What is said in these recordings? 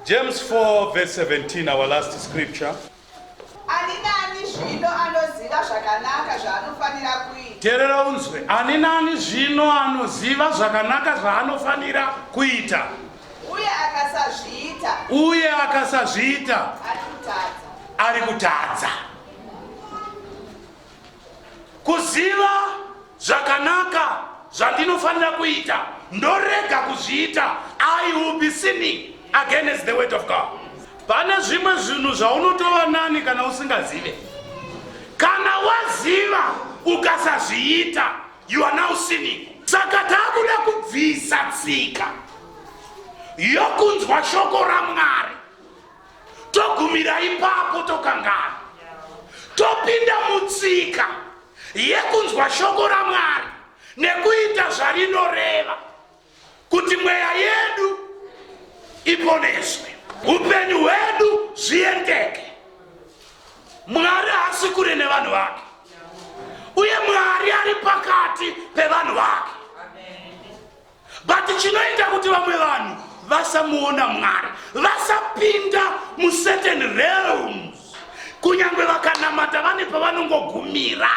James 4 verse 17 our last scripture. Ani nani zvino anoziva zvakanaka zvaanofanira kuita. Terera unzwe. Ani nani zvino anoziva zvakanaka zvaanofanira kuita. Uye akasazviita. Uye akasazviita. Ari kutadza. Ari kutadza. Kuziva zvakanaka zvandinofanira kuita ndorega kuzviita i will be sinning against the word of god pane zvimwe zvinhu zvaunotova nani kana usingazive kana waziva ukasazviita you are now sinning saka takuda kubvisa tsika yokunzwa shoko ramwari togumira ipapo tokangana topinda mutsika yekunzwa shoko ramwari nekuita zvarinoreva kuti mweya yedu iponeswe upenyu hwedu zviendeke mwari haasi kure nevanhu vake uye mwari ari pakati pevanhu vake but chinoita kuti vamwe vanhu vasamuona mwari vasapinda mucertain realms kunyange vakanamata vane pavanongogumira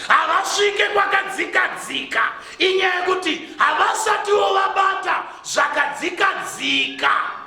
havasvike kwakadzikadzika inyaya yekuti havasatiwo vabata zvakadzikadzika